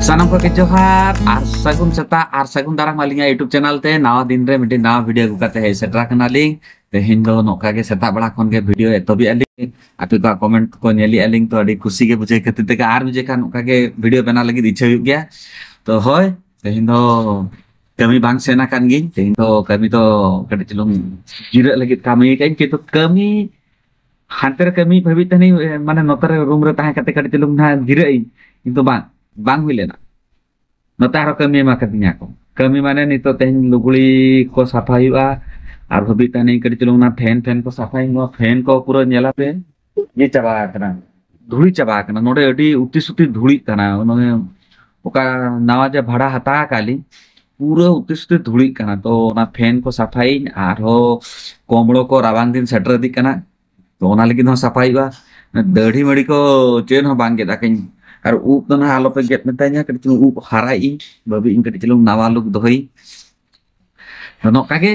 ᱥᱟᱱᱟᱢ ᱠᱚᱜᱮ ᱡᱚᱦᱟᱨ ᱟᱨ ᱥᱟᱹᱜᱩᱱ ᱥᱮᱛᱟᱜ ᱟᱨ ᱥᱟᱹᱜᱩᱱ ᱫᱟᱨᱟᱢ ᱟᱹᱞᱤᱧᱟᱜ ᱭᱩᱴᱩᱵᱽ ᱪᱮᱱᱮᱞ ᱛᱮ ᱱᱟᱣᱟ ᱫᱤᱱ ᱨᱮ ᱢᱤᱫᱴᱤᱡ ᱱᱟᱣᱟ ᱵᱷᱤᱰᱤᱭᱳ ᱟᱹᱜᱩ ᱠᱟᱛᱮ ᱦᱮᱡ ᱥᱮᱴᱮᱨ ᱟᱠᱟᱱᱟᱞᱤᱧ ᱛᱮᱦᱮᱧ ᱫᱚ ᱱᱚᱝᱠᱟ ᱜᱮ ᱥᱮᱛᱟᱜ ᱵᱮᱲᱟ ᱠᱷᱚᱱ ᱜᱮ ᱵᱷᱤᱰᱤᱭᱳ ᱮᱛᱚᱦᱚᱵᱮᱜᱼᱟ ᱞᱤᱧ ᱟᱯᱮ ᱠᱚᱣᱟᱜ ᱠᱚᱢᱮᱱᱴ ᱠᱚ ᱧᱮᱞᱮᱜᱼᱟ ᱞᱤᱧ ᱛᱚ ᱟᱹᱰᱤ ᱠᱩᱥᱤ ᱜᱮ ᱵᱩᱡᱷᱟᱹᱣ ᱠᱷᱟᱹᱛᱤᱨ ᱛᱮᱜᱮ ᱟᱨ ᱵᱩᱡᱷᱟᱹᱣ ᱠᱷᱟᱱ ᱚᱱᱠᱟ ᱜᱮ ᱵᱷᱤᱰᱤᱭᱳ ᱵᱮᱱᱟᱣ ᱞᱟᱹᱜᱤᱫ ᱤᱪᱪᱷᱟᱹ ᱦᱩᱭᱩᱜ ᱜᱮᱭᱟ ᱛᱚ ᱦᱳᱭ ᱛᱮᱦᱮᱧ ᱫᱚ ᱠᱟᱹᱢᱤ ᱵᱟᱝ ᱥᱮᱱ ᱟᱠᱟᱱ ᱜᱤᱧ ᱛᱮᱦᱮᱧ ᱫᱚ ᱠᱟᱹᱢᱤ ᱫᱚ ᱠᱟᱹᱴᱤᱡ ᱪᱩᱞᱩᱝ ᱡᱤᱨᱟᱹᱜ ᱞᱟᱹᱜᱤᱫ ᱠᱟᱹᱢᱤ ᱠᱟᱹᱧ ᱠᱤᱱᱛᱩ ᱠᱟᱹᱢᱤ ᱦᱟᱱᱛᱮ ᱨᱮ ᱠᱟᱹᱢᱤ ᱵᱷᱟᱹᱵᱤᱡ ᱛᱟᱦᱮᱱᱤᱧ ᱢᱟᱱᱮ ᱱᱚᱛᱮ ᱨᱮ ᱨᱩᱢ ᱨᱮ ᱛᱟᱦᱮᱸ ᱠᱟᱛᱮ ᱠᱟᱹᱴᱤᱡ ᱪᱩᱞᱩᱝ ᱱᱟᱦᱟᱜ ᱡᱤᱨᱟᱹᱜ ᱤᱧ ᱠᱤᱱᱛᱩ ᱵᱟᱝ ᱵᱟᱝ ᱦᱩᱭ ᱞᱮᱱᱟ ᱱᱚᱛᱮ ᱟᱨᱦᱚᱸ ᱠᱟᱹᱢᱤ ᱮᱢᱟ ᱠᱟᱫᱤᱧᱟ ᱠᱚ ᱠᱟᱹᱢᱤ ᱢᱟᱱᱮ ᱱᱤᱛᱚᱜ ᱛᱮᱦᱮᱧ ᱞᱩᱜᱽᱲᱤ ᱠᱚ ᱥᱟᱯᱷᱟ ᱦᱩᱭᱩᱜᱼᱟ ᱟᱨ ᱦᱟᱹᱵᱤᱡ ᱛᱟᱦᱮᱱᱤᱧ ᱠᱟᱹᱴᱤᱡ ᱪᱩᱞᱩᱝ ᱚᱱᱟ ᱯᱷᱮᱱ ᱯᱷᱮᱱ ᱠᱚ ᱥᱟᱯᱷᱟᱭ ᱱᱚᱣᱟ ᱯᱷᱮᱱ ᱠᱚ ᱯᱩᱨᱟᱹ ᱧᱮᱞᱟ ᱯᱮ ᱤᱭᱟᱹ ᱪᱟᱵᱟ ᱟᱠᱟᱱᱟ ᱫᱷᱩᱲᱤ ᱪᱟᱵᱟ ᱟᱠᱟᱱᱟ ᱱᱚᱰᱮ ᱟᱹᱰᱤ ᱩᱛᱤ ᱥᱩᱛᱤ ᱫᱷᱩᱲᱤᱜ ᱠᱟᱱᱟ ᱚᱱᱟ ᱚᱠᱟ ᱱᱟᱣᱟ ᱡᱮ ᱵᱷᱟᱲᱟ ᱦᱟᱛᱟᱣ ᱟᱠᱟᱫ ᱞᱤᱧ ᱯᱩᱨᱟᱹ ᱩᱛᱤ ᱥᱩᱛᱤ ᱫᱷᱩᱲᱤᱜ ᱠᱟᱱᱟ ᱛᱚ ᱚᱱᱟ ᱯᱷᱮᱱ ᱠᱚ ᱥᱟᱯᱷᱟᱭᱤᱧ ᱟᱨᱦᱚᱸ ᱠᱚᱢᱲᱚ ᱠᱚ ᱨᱟᱵᱟᱝ ᱫᱤᱱ ᱥᱮᱴᱮᱨ ᱤᱫᱤᱜ ᱠᱟᱱᱟ ᱛᱚ ᱚᱱᱟ ᱞᱟᱹᱜᱤᱫ ᱦᱚᱸ ᱥᱟᱯᱷᱟᱭ ᱦᱩᱭᱩᱜᱼᱟ ᱫᱟᱹᱲᱦᱤ ᱢᱟᱹᱲᱤ ᱠᱚ ᱪᱮᱫ ᱦᱚᱸ ᱵᱟᱝ ᱜᱮᱫ ᱟᱠᱟᱧ ᱟᱨ ᱩᱵ ᱫᱚ ᱱᱟᱦᱟᱜ ᱟᱞᱚᱯᱮ ᱜᱮᱫ ᱢᱮᱛᱟᱧᱟ ᱠᱟᱹᱴᱤᱡ ᱪᱩᱞᱩᱝ ᱩᱵ ᱦᱟᱨᱟᱭ ᱤᱧ ᱵᱟᱹᱵᱤ ᱤᱧ ᱠᱟᱹᱴᱤᱡ ᱪᱩᱞᱩᱝ ᱱᱟᱣᱟ ᱞᱩᱠ ᱫᱚᱦᱚᱭ ᱛᱚ ᱱᱚᱝᱠᱟ ᱜᱮ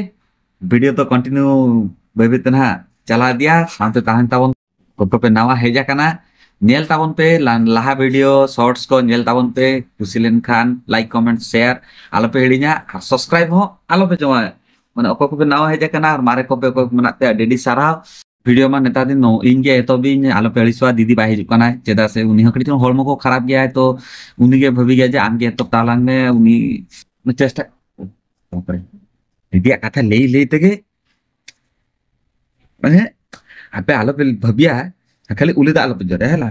ᱵᱷᱤᱰᱤᱭᱳ ᱫᱚ ᱠᱚᱱᱴᱤᱱᱤᱭᱩ ᱵᱟᱹᱭ ᱵᱟᱹᱭ ᱛᱮ ᱱᱟᱦᱟᱜ ᱪᱟᱞᱟᱣ ᱤᱫᱤᱭᱟ ᱥᱟᱶᱛᱮ ᱛᱟᱦᱮᱱ ᱛᱟᱵᱚᱱ ᱚᱠᱚᱭ ᱯᱮ ᱱᱟᱣᱟ ᱦᱮᱡ ᱟᱠᱟᱱᱟ ᱧᱮᱞ ᱛᱟᱵᱚᱱ ᱯᱮ ᱞᱟᱦᱟ ᱵᱷᱤᱰᱤᱭᱳ ᱥᱚᱨᱴᱥ ᱠᱚ ᱧᱮᱞ ᱛᱟᱵᱚᱱ ᱯᱮ ᱠᱩᱥᱤ ᱞᱮᱱᱠᱷᱟᱱ ᱞᱟᱭᱤᱠ ᱠᱚᱢᱮᱱᱴ ᱥᱮᱭᱟᱨ ᱟᱞᱚᱯᱮ ᱦᱤᱲᱤᱧᱟ ᱟᱨ ᱥᱟᱵᱥᱠᱨᱟᱭᱤᱵ ᱦᱚᱸ ᱟᱞᱚᱯᱮ ᱡᱚᱢᱟ ᱢᱟᱱᱮ ᱚᱠᱚᱭ ᱠᱚᱯᱮ ᱱᱟᱣᱟ ᱦᱮᱡ ᱟᱠᱟᱱᱟ ᱟᱨ ᱢᱟᱨᱮ ᱠᱚᱯᱮ ᱚᱠᱚᱭ ᱢᱮᱱᱟᱜ ᱯᱮᱭᱟ ᱟᱹᱰᱤ ᱟᱹᱰᱤ ᱥᱟᱨᱦᱟᱣ ᱵᱷᱤᱰᱤᱭᱳ ᱢᱟ ᱱᱮᱛᱟᱨ ᱫᱤᱱ ᱤᱧ ᱜᱮ ᱮᱛᱚᱦᱚᱵᱤᱧ ᱟᱞᱚᱯᱮ ᱟᱹᱲᱤᱥᱚᱜᱼᱟ ᱫᱤᱫᱤ ᱵᱟᱭ ᱦᱤᱡᱩᱜ ᱠᱟᱱᱟᱭ ᱪᱮᱫᱟᱜ ᱥᱮ ᱩᱱᱤ ᱦᱚᱸ ᱠᱟᱹᱴᱤᱡ ᱪᱩᱞᱩᱝ ᱦᱚᱲᱢᱚ ᱠᱚ ᱠᱷᱟᱨᱟᱯ ᱜᱮᱭᱟᱭ ᱛᱚ ᱩᱱᱤ ᱜᱮ ᱵᱷᱟᱹᱵᱤ ᱜᱮᱭᱟ ᱡᱮ ᱟᱢ ᱜᱮ ᱮᱛᱚᱦᱚᱵ ᱛᱟᱞᱟᱝ ᱢᱮ ᱩᱱᱤ ᱪᱮᱥᱴᱟ ᱫᱤᱫᱤᱭᱟᱜ ᱠᱟᱛᱷᱟ ᱞᱟᱹᱭ ᱞᱟᱹᱭ ᱛᱮᱜᱮ ᱢᱟᱱᱮ ᱟᱯᱮ ᱟᱞᱚᱯᱮ ᱵᱷᱟᱹᱵᱤᱭᱟ ᱠᱷᱟᱹᱞᱤ ᱩᱞᱤ ᱫᱟᱜ ᱟᱞᱚᱯᱮ ᱡᱚᱨᱮ ᱦᱮᱞᱟ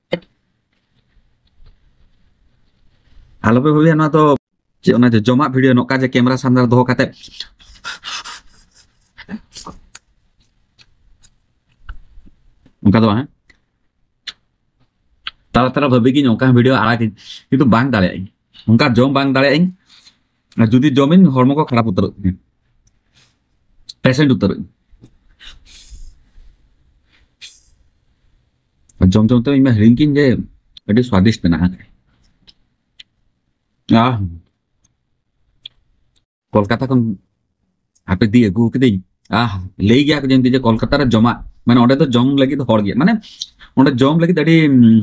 ᱟᱞᱚ ᱯᱮ ᱵᱷᱟᱹᱵᱤᱭᱟ ᱱᱚᱣᱟ ᱫᱚ ᱪᱮᱫ ᱚᱱᱟ ᱡᱚᱢᱟᱜ ᱵᱷᱤᱰᱤᱭᱳ ᱱᱚᱝᱠᱟ ᱡᱮ ᱠᱮᱢᱮᱨᱟ ᱥᱟᱢᱱᱮ ᱨᱮ ᱫᱚᱦᱚ ᱠᱟᱛᱮ ᱚᱱᱠᱟ ᱫᱚ ᱵᱟᱝ ᱛᱟᱲᱟ ᱛᱟᱲᱟ ᱵᱷᱟᱹᱵᱤ ᱜᱤᱧ ᱚᱱᱠᱟ ᱵᱷᱤᱰᱤᱭᱳ ᱟᱲᱟᱜᱟᱹᱧ ᱠᱤᱱᱛᱩ ᱵᱟᱝ ᱫᱟᱲᱮᱭᱟᱜ ᱟᱹᱧ ᱚᱱᱠᱟ ᱡᱚᱢ ᱵᱟᱝ ᱫᱟᱲᱮᱭᱟᱜ ᱟᱹᱧ ᱟᱨ ᱡᱩᱫᱤ ᱡᱚᱢᱤᱧ ᱦᱚᱲᱢᱚ ᱠᱚ ᱠᱷᱟᱨᱟᱯ ᱩᱛᱟᱹᱨᱚᱜ ᱛᱤᱧᱟ ᱯᱮᱥᱮᱱᱴ ᱩᱛᱟᱹᱨᱚᱜ ᱤᱧ ᱡᱚᱢ ᱡᱚᱢ ᱛᱮ ᱤᱧ ᱢᱟ ᱦᱤᱲᱤᱧ ᱠᱤᱧ ᱡᱮ ᱟᱹᱰᱤ ᱥᱣᱟᱫᱤᱥᱴ ᱢᱮᱱᱟᱜᱼᱟ ᱟᱦ ᱠᱳᱞᱠᱟᱛᱟ ᱠᱷᱚᱱ ᱦᱟᱯᱮ ᱫᱤ ᱟᱹᱜᱩ ᱠᱤᱫᱟᱹᱧ ᱟᱦ ᱞᱟᱹᱭ ᱜᱮᱭᱟ ᱠᱚ ᱡᱮ ᱡᱮ ᱠᱳᱞᱠᱟᱛᱟ ᱨᱮ ᱡᱚᱢᱟᱜ ᱢᱟᱱᱮ ᱚᱸᱰᱮ ᱫᱚ ᱡᱚᱢ ᱞᱟᱹᱜᱤᱫ ᱦᱚᱲ ᱜᱮᱭᱟ ᱢᱟᱱᱮ ᱚᱸᱰᱮ ᱡᱚᱢ ᱞᱟᱹᱜᱤᱫ ᱟᱹᱰᱤ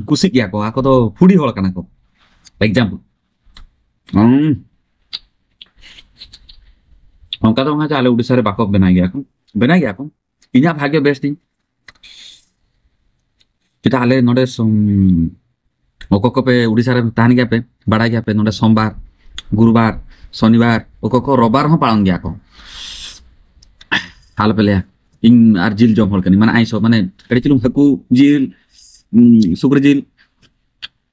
ᱠᱩᱥᱤᱜ ᱜᱮᱭᱟ ᱠᱚ ᱟᱠᱚ ᱫᱚ ᱯᱷᱩᱰᱤ ᱦᱚᱲ ᱠᱟᱱᱟ ᱠᱚ ᱮᱠᱡᱟᱢᱯᱚᱞ ᱚᱱᱠᱟ ᱫᱚ ᱵᱟᱝ ᱟᱞᱮ ᱩᱲᱤᱥᱥᱟ ᱨᱮ ᱵᱟᱠᱚ ᱵᱮᱱᱟᱣ ᱜᱮᱭᱟ ᱠᱚ ᱵᱮᱱᱟᱣ ᱜᱮᱭᱟ ᱠᱚ ᱤᱧᱟᱹᱜ ᱵᱷᱟᱜᱮ ᱵᱮᱥ ᱛᱤᱧ ᱪᱮᱫᱟᱜ ᱟᱞᱮ ᱱᱚᱰᱮ ᱚᱠᱚᱭ ᱠᱚᱯᱮ ᱩᱲᱤᱥᱥᱟ ᱨᱮ ᱛᱟᱦᱮᱱ ᱜᱮᱭᱟ ᱯᱮ ᱵᱟᱲᱟᱭ ᱜᱮᱭᱟ ᱯᱮ ᱱᱚᱰᱮ ᱥᱳᱢᱵᱟᱨ ᱜᱩᱨᱩᱵᱟᱨ ᱥᱚᱱᱤᱵᱟᱨ ᱚᱠᱚᱭ ᱠᱚ ᱨᱚᱵᱟᱨ ᱦᱚᱸ ᱯᱟᱲᱟᱣ ᱜᱮᱭᱟ ᱠᱚ ᱟᱞᱚᱯᱮ ᱞᱟᱹᱭᱟ ᱤᱧ ᱟᱨ ᱡᱤᱞ ᱡᱚᱢ ᱦᱚᱲ ᱠᱟᱹᱱᱟᱹᱧ ᱢᱟᱱᱮ ᱟᱭᱥᱚ ᱢᱟᱱᱮ ᱠᱟᱹᱴᱤᱡ ᱪᱩᱞᱩᱝ ᱦᱟᱹᱠᱩ ᱡᱤᱞ ᱥᱩᱠᱨᱤ ᱡᱤᱞ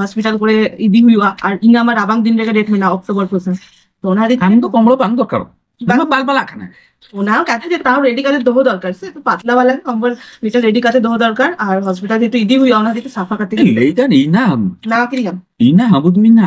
ᱦᱚᱥᱯᱤᱴᱟᱞ ᱠᱚᱨᱮ ᱤᱫᱤ ᱦᱩᱭᱩᱜᱼᱟ ᱟᱨ ᱤᱧ ᱟᱢᱟᱜ ᱨᱟᱵᱟᱝ ᱫᱤᱱ ᱨᱮᱜᱮ ᱰᱮᱴ ᱢᱮᱱᱟᱜᱼᱟ ᱚᱠᱴᱳᱵᱚᱨ ᱯᱚᱨᱥᱮᱱ ᱛᱚ ᱚᱱᱟ ᱨᱮ ᱟᱢ ᱫᱚ ᱠᱚᱢᱵᱚᱞ ᱵᱟᱝ ᱫᱚᱨᱠᱟᱨ ᱵᱟᱝ ᱵᱟᱞ ᱵᱟᱞᱟᱜ ᱠᱟᱱᱟ ᱚᱱᱟ ᱠᱟᱛᱷᱟ ᱡᱮ ᱛᱟᱣ ᱨᱮᱰᱤ ᱠᱟᱛᱮ ᱫᱚᱦᱚ ᱫᱚᱨᱠᱟর ᱥᱮ ᱛᱚ ᱯᱟᱛᱞᱟ ᱵᱟᱞᱟ ᱠᱚᱢᱵᱚᱞ ᱢᱤᱫᱴᱮᱱ ᱨᱮᱰᱤ ᱠᱟᱛᱮ ᱫᱚᱦᱚ ᱫᱚᱨᱠᱟর ᱟᱨ ᱦᱚᱥᱯᱤᱴᱟᱞ ᱡᱮᱦᱮᱛᱩ ᱤᱫᱤ ᱦᱩᱭᱩᱜᱼᱟ ᱚᱱᱟ ᱦᱚᱛᱮᱡ ᱛᱮ ᱥᱟᱯᱷᱟ ᱠᱟᱛᱮ ᱞᱟᱹᱭ ᱫᱟᱱ ᱤᱧ ᱱᱟ ᱞᱟᱜᱟᱣ ᱠᱤᱫᱤᱧᱟᱢ ᱤᱧ ᱱᱟ ᱦᱟᱵᱩᱫ ᱢᱤᱱᱟ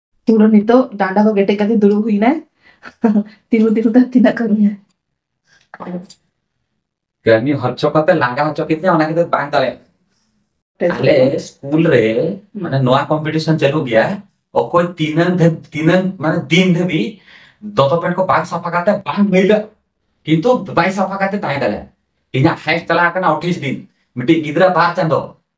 ᱯᱩᱨᱟᱹ ᱱᱤᱛᱚᱜ ᱰᱟᱸᱰᱟ ᱠᱚ ᱠᱮᱴᱮᱡ ᱠᱟᱛᱮ ᱫᱩᱲᱩᱵ ᱦᱩᱭᱱᱟᱭ ᱛᱤᱸᱜᱩ ᱛᱤᱸᱜᱩ ᱛᱮ ᱛᱤᱱᱟᱹᱜ ᱠᱟᱹᱢᱤᱭᱟ ᱠᱟᱹᱢᱤ ᱦᱚᱪᱚ ᱠᱟᱛᱮ ᱞᱟᱸᱜᱟ ᱦᱚᱪᱚ ᱠᱮᱫᱤᱧᱟ ᱚᱱᱟ ᱠᱷᱟᱹᱛᱤᱨ ᱵᱟᱝ ᱫᱟᱲᱮᱭᱟᱜ ᱟᱞᱮ ᱥᱠᱩᱞ ᱨᱮ ᱢᱟᱱᱮ ᱱᱚᱣᱟ ᱠᱚᱢᱯᱤᱴᱤᱥᱚᱱ ᱪᱟᱹᱞᱩ ᱜᱮᱭᱟ ᱚᱠᱚᱭ ᱛᱤᱱᱟᱹᱝ ᱛᱤᱱᱟᱹᱝ ᱢᱟᱱᱮ ᱫᱤᱱ ᱫᱷᱟᱹᱵᱤᱡ ᱫᱚᱛᱚ ᱯᱮᱱᱴ ᱠᱚ ᱵᱟᱝ ᱥᱟᱯᱷᱟ ᱠᱟᱛᱮ ᱵᱟᱝ ᱢᱟᱹᱭᱞᱟᱹ ᱠᱤᱱᱛᱩ ᱵᱟᱭ ᱥᱟᱯᱷᱟ ᱠᱟᱛᱮ ᱛᱟᱦᱮᱸ ᱫᱟᱲᱮᱭᱟᱜᱼᱟ ᱤᱧᱟᱹᱜ ᱦᱟᱭᱮᱥᱴ ᱪᱟᱞᱟᱣ ᱟᱠᱟᱱᱟ ᱚᱴᱷᱤᱥ ᱫᱤᱱ ᱢᱤᱫᱴᱤᱡ ᱜᱤᱫᱽᱨᱟᱹ ᱵᱟᱨ ᱪᱟᱸᱫᱚ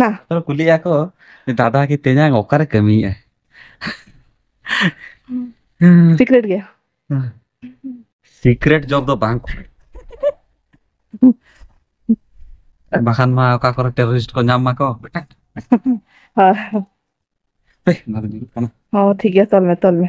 ᱱᱟ ᱛᱚ ᱠᱩᱞᱤᱜᱼᱟ ᱠᱚ ᱫᱟᱫᱟ ᱜᱮ ᱛᱮᱧᱟᱝ ᱚᱠᱟᱨᱮ ᱠᱟᱹᱢᱤᱭᱮᱫᱼᱟ? ᱥᱤᱠᱨᱮᱴ ᱜᱮ ᱥᱤᱠᱨᱮᱴ ᱡᱚᱵ ᱫᱚ ᱵᱟᱝ ᱠᱟᱱᱟ᱾ ᱵᱟᱠᱷᱟᱱ ᱢᱟ ᱚᱠᱟ ᱠᱚᱨᱮ ᱴᱮᱨᱚᱨᱤᱥᱴ ᱠᱚ ᱧᱟᱢ ᱢᱟᱠᱚ ᱦᱳᱭ ᱦᱳᱭ ᱦᱮᱸ ᱢᱟ ᱛᱚᱞ ᱢᱮ ᱛᱚᱞ ᱢᱮ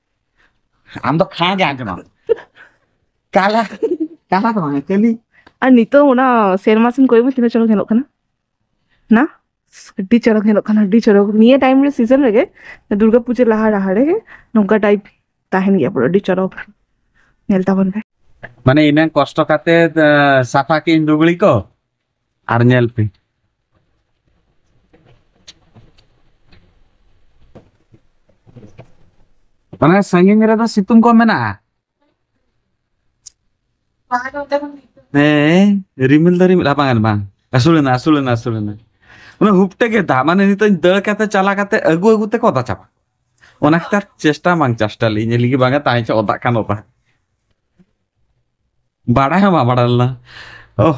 ᱟᱢ ᱫᱚ ᱠᱷᱟᱸ ᱜᱮ ᱟᱸᱡᱚᱢᱟᱢ ᱠᱟᱞᱟ ᱠᱟᱞᱟ ᱫᱚ ᱵᱟᱝ ᱠᱟᱹᱞᱤ ᱟᱨ ᱱᱤᱛᱚᱜ ᱚᱱᱟ ᱥᱮᱨᱢᱟ ᱥᱮᱱ ᱠᱚᱭᱚᱜ ᱢᱮ ᱛᱤᱱᱟᱹᱜ ᱪᱚᱨᱚᱠ ᱧᱮᱞᱚᱜ ᱠᱟᱱᱟ ᱱᱟ ᱟᱹᱰᱤ ᱪᱚᱨᱚᱠ ᱧᱮᱞᱚᱜ ᱠᱟᱱᱟ ᱟᱹᱰᱤ ᱪᱚᱨᱚᱠ ᱱᱤᱭᱟᱹ ᱴᱟᱭᱤᱢ ᱨᱮ ᱥᱤᱡᱚᱱ ᱨᱮᱜᱮ ᱫᱩᱨᱜᱟ ᱯᱩᱡᱟᱹ ᱞᱟᱦᱟ ᱞᱟᱦᱟ ᱨᱮᱜᱮ ᱱᱚᱝᱠᱟ ᱴᱟᱭᱤᱯ ᱛᱟᱦᱮᱱ ᱜᱮᱭᱟ ᱯᱩᱨᱟᱹ ᱟᱹᱰᱤ ᱪᱚᱨᱚᱠ ᱧᱮᱞ ᱛᱟᱵᱚᱱ ᱯᱮ ᱢᱟᱱᱮ ᱤᱱᱟᱹ ᱠᱚᱥᱴᱚ ᱠᱟᱛᱮ ᱥᱟᱯᱷᱟ ᱠᱤᱧ ᱞᱩᱜᱽᱲᱤ ᱠᱚ ᱟᱨ ᱧᱮᱞ ᱯᱮ ᱢᱟᱱᱮ ᱥᱟᱺᱜᱤᱧ ᱨᱮᱫᱚ ᱥᱤᱛᱩᱝ ᱠᱚ ᱢᱮᱱᱟᱜᱼᱟ ᱦᱮᱸ ᱨᱤᱢᱤᱞ ᱫᱚ ᱨᱤᱢᱤᱞ ᱵᱟᱝ ᱵᱟᱝ ᱟᱹᱥᱩᱞᱮᱱᱟ ᱟᱹᱥᱩᱞᱮᱱᱟ ᱟᱹᱥᱩᱞᱮᱱᱟ ᱚᱱᱟ ᱦᱩᱯᱴᱮ ᱜᱮ ᱫᱟᱜ ᱢᱟᱱᱮ ᱱᱤᱛᱚᱜ ᱫᱟᱹᱲ ᱠᱟᱛᱮ ᱪᱟᱞᱟ ᱠᱟᱛᱮ ᱟᱹᱜᱩ ᱟᱹᱜᱩ ᱛᱮᱠᱚ ᱚᱫᱟ ᱪᱟᱵᱟ ᱚᱱᱟ ᱠᱷᱟᱹᱛᱤᱨ ᱪᱮᱥᱴᱟ ᱵᱟᱝ ᱪᱮᱥᱴᱟ ᱞᱤᱧ ᱞᱟᱹᱜᱤᱫ ᱵᱟᱝᱟ ᱛᱟᱦᱮᱸ ᱪᱚ ᱚᱫᱟᱜ ᱠᱟᱱ ᱚᱫᱟ ᱵᱟᱲᱟᱭ ᱦᱚᱸ ᱵᱟᱢ ᱵᱟᱲᱟᱭ ᱞᱮᱱᱟ ᱳ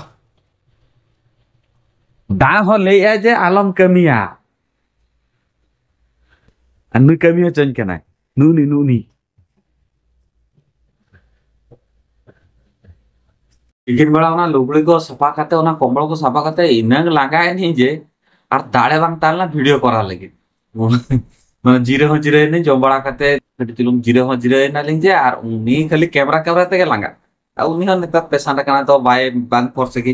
ᱫᱟᱜ ᱦᱚᱸ ᱞᱟᱹᱭᱮᱜᱼᱟᱭ ᱡᱮ ᱟᱞᱚᱢ ᱠᱟᱹᱢᱤᱭᱟ ᱟᱨ ᱱᱩᱭ ᱠᱟᱹᱢᱤ ᱦᱚᱪᱚᱧ ᱠᱟᱱᱟᱭ ᱱᱩᱜᱱᱤ ᱱᱩᱜᱱᱤ ᱛᱤᱠᱤᱱ ᱵᱮᱲᱟ ᱚᱱᱟ ᱞᱩᱜᱽᱲᱤ ᱠᱚ ᱥᱟᱯᱷᱟ ᱠᱟᱛᱮ ᱚᱱᱟ ᱠᱚᱢᱵᱚᱞ ᱠᱚ ᱥᱟᱯᱷᱟ ᱠᱟᱛᱮ ᱤᱱᱟᱹᱝ ᱞᱟᱸᱜᱟᱭᱮᱱᱤᱧ ᱡᱮ ᱟᱨ ᱫᱟᱲᱮ ᱵᱟᱝ ᱛᱟᱦᱮᱸ ᱞᱮᱱᱟ ᱵᱷᱤᱰᱤᱭᱳ ᱠᱚᱨᱟᱣ ᱞᱟᱹᱜᱤᱫ ᱢᱟᱱᱮ ᱡᱤᱨᱟᱹ ᱦᱚᱸ ᱡᱤᱨᱟᱹ ᱮᱱᱟᱹᱧ ᱡᱚᱢ ᱵᱟᱲᱟ ᱠᱟᱛᱮ ᱠᱟᱹᱴᱤᱡ ᱪᱩᱞᱩᱝ ᱡᱤᱨᱟᱹ ᱦᱚᱸ ᱡᱤᱨᱟᱹ ᱮᱱᱟᱞᱤᱧ ᱡᱮ ᱟᱨ ᱩᱱᱤ ᱠᱷᱟᱹᱞᱤ ᱠᱮᱢᱨᱟ ᱠᱮᱢᱨᱟ ᱛᱮᱜᱮ ᱞᱟᱸᱜᱟ ᱟᱨ ᱩᱱᱤ ᱦᱚᱸ ᱱᱮᱛᱟᱨ ᱯᱮᱥᱟᱱᱴ ᱠᱟᱱᱟ ᱛᱚ ᱵᱟᱭ ᱵᱟᱝ ᱯᱷᱚᱨᱥ ᱜᱮ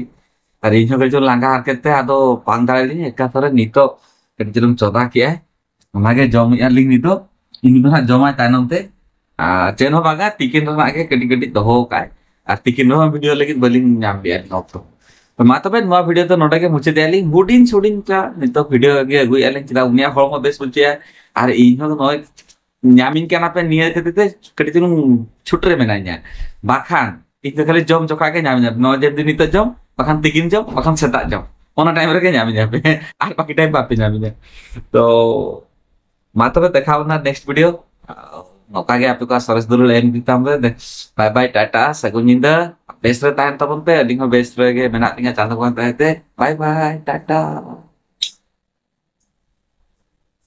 ᱟᱨ ᱤᱧ ᱦᱚᱸ ᱠᱟᱹᱴᱤᱡ ᱪᱩᱞᱩᱝ ᱞᱟᱸᱜᱟ ᱦᱟᱨᱠᱮᱛ ᱛᱮ ᱟᱫᱚ ᱵᱟᱝ ᱫᱟᱲᱮᱭᱟᱫᱤᱧ ᱮᱠᱟ ᱛᱚᱨᱮ ᱱᱤᱛᱚᱜ ᱠᱟᱹᱴᱤᱡ ᱪᱩᱞᱩᱝ ᱪᱚᱸᱫᱟ ᱠᱮᱜᱼᱟᱭ ᱚᱱᱟᱜᱮ ᱡᱚᱢᱮᱜᱼᱟ ᱞᱤᱧ ᱱᱤᱛᱚᱜ ᱤᱧ ᱫᱚ ᱦᱟᱸᱜ ᱡᱚᱢᱟᱭ ᱛᱟᱭᱱᱚᱢ ᱛᱮ ᱟᱨ ᱪᱮᱫ ᱦᱚᱸ ᱵᱟᱝᱟ ᱛᱤᱠᱤᱱ ᱨᱮᱱᱟᱜ ᱜᱮ ᱠᱟᱹᱴᱤᱡ ᱠᱟᱹᱴᱤᱡ ᱫᱚᱦᱚ ᱠᱟᱜᱼᱟᱭ ᱟᱨ ᱛᱤᱠᱤᱱ ᱨᱮᱦᱚᱸ ᱵᱷᱤᱰᱤᱭᱳ ᱞᱟᱹᱜᱤᱫ ᱵᱟᱹᱞᱤᱧ ᱧᱟᱢ ᱞᱮᱜᱼᱟ ᱟᱹᱞᱤᱧ ᱚᱠᱛᱚ ᱛᱚ ᱢᱟ ᱛᱚᱵᱮ ᱱᱚᱣᱟ ᱵᱷᱤᱰᱤᱭᱳ ᱫᱚ ᱱᱚᱰᱮ ᱜᱮ ᱢᱩᱪᱟᱹᱫᱮᱜᱼᱟ ᱞᱤᱧ ᱦᱩᱰᱤᱧ ᱦᱩᱰᱤᱧ ᱠᱟ ᱱᱤᱛᱚᱜ ᱵᱷᱤᱰᱤᱭᱳ ᱜᱮ ᱟᱹᱜᱩᱭᱮᱜᱼᱟ ᱞᱤᱧ ᱪᱮᱫᱟᱜ ᱩᱱᱤᱭᱟᱜ ᱦᱚᱲᱢᱚ ᱵᱮᱥ ᱵᱟᱹᱪᱩᱜᱼᱟ ᱟᱨ ᱤᱧ ᱦᱚᱸ ᱱᱚᱜᱼᱚᱭ ᱧᱟᱢᱤᱧ ᱠᱟᱱᱟ ᱯᱮ ᱱᱤᱭᱟᱹ ᱠᱷᱟᱹᱛᱤᱨ ᱛᱮ ᱠᱟᱹᱴᱤᱡ ᱪᱩᱞᱩᱝ ᱪᱷᱩᱴ ᱨᱮ ᱢᱮᱱᱟᱧᱟ ᱵᱟᱠᱷᱟᱱ ᱤᱧ ᱫᱚ ᱠᱷᱟᱹᱞᱤ ᱡᱚᱢ ᱡᱚᱠᱷᱟ ᱜᱮ ᱧᱟᱢᱤᱧᱟ ᱱᱚᱣᱟ ᱡᱮ ᱫᱤᱱ ᱱᱤᱛᱚᱜ ᱡᱚᱢ ᱵᱟᱠᱷᱟᱱ ᱛᱤᱠᱤᱱ ᱡᱚᱢ ᱵᱟᱠᱷᱟᱱ ᱥᱮᱛᱟᱜ ᱡᱚᱢ ᱚᱱᱟ ᱴᱟᱭᱤᱢ ᱨᱮᱜᱮ ᱧᱟᱢᱤᱧᱟ ᱯᱮ ᱟᱨ ᱵᱟᱠᱤ ᱴᱟᱭᱤᱢ ᱵᱟᱯᱮ ᱧᱟᱢᱤᱧᱟ ᱛᱚ ᱢᱟ ᱛᱚᱵᱮ ᱫᱮᱠᱷᱟᱣ ᱵᱚᱱᱟ ᱱᱮᱠᱥᱴ ᱵᱷᱤᱰᱤᱭᱳ ᱱᱚᱝᱠᱟ ᱜᱮ ᱟᱯᱮ ᱠᱚᱣᱟᱜ ᱥᱚᱨᱮᱥ ᱫᱩᱞᱩᱲ ᱮᱢ ᱤᱫᱤ ᱛᱟᱢ ᱯᱮ ᱵᱟᱭ ᱵᱟᱭ ᱴᱟᱴᱟ ᱥᱟᱹᱜᱩᱱ ᱧᱤᱫᱟᱹ ᱵᱮᱥ ᱨᱮ ᱛᱟᱦᱮᱱ ᱛᱟᱵᱚᱱ ᱯᱮ ᱟᱹᱞᱤᱧ ᱦᱚᱸ ᱵᱮᱥ ᱨᱮᱜᱮ ᱢᱮᱱᱟᱜ ᱞᱤᱧᱟ ᱪᱟᱸᱫᱳ ᱵᱚᱸᱜᱟ ᱫᱟᱭᱟᱛᱮ ᱵᱟᱭ ᱵᱟᱭ ᱴᱟᱴᱟ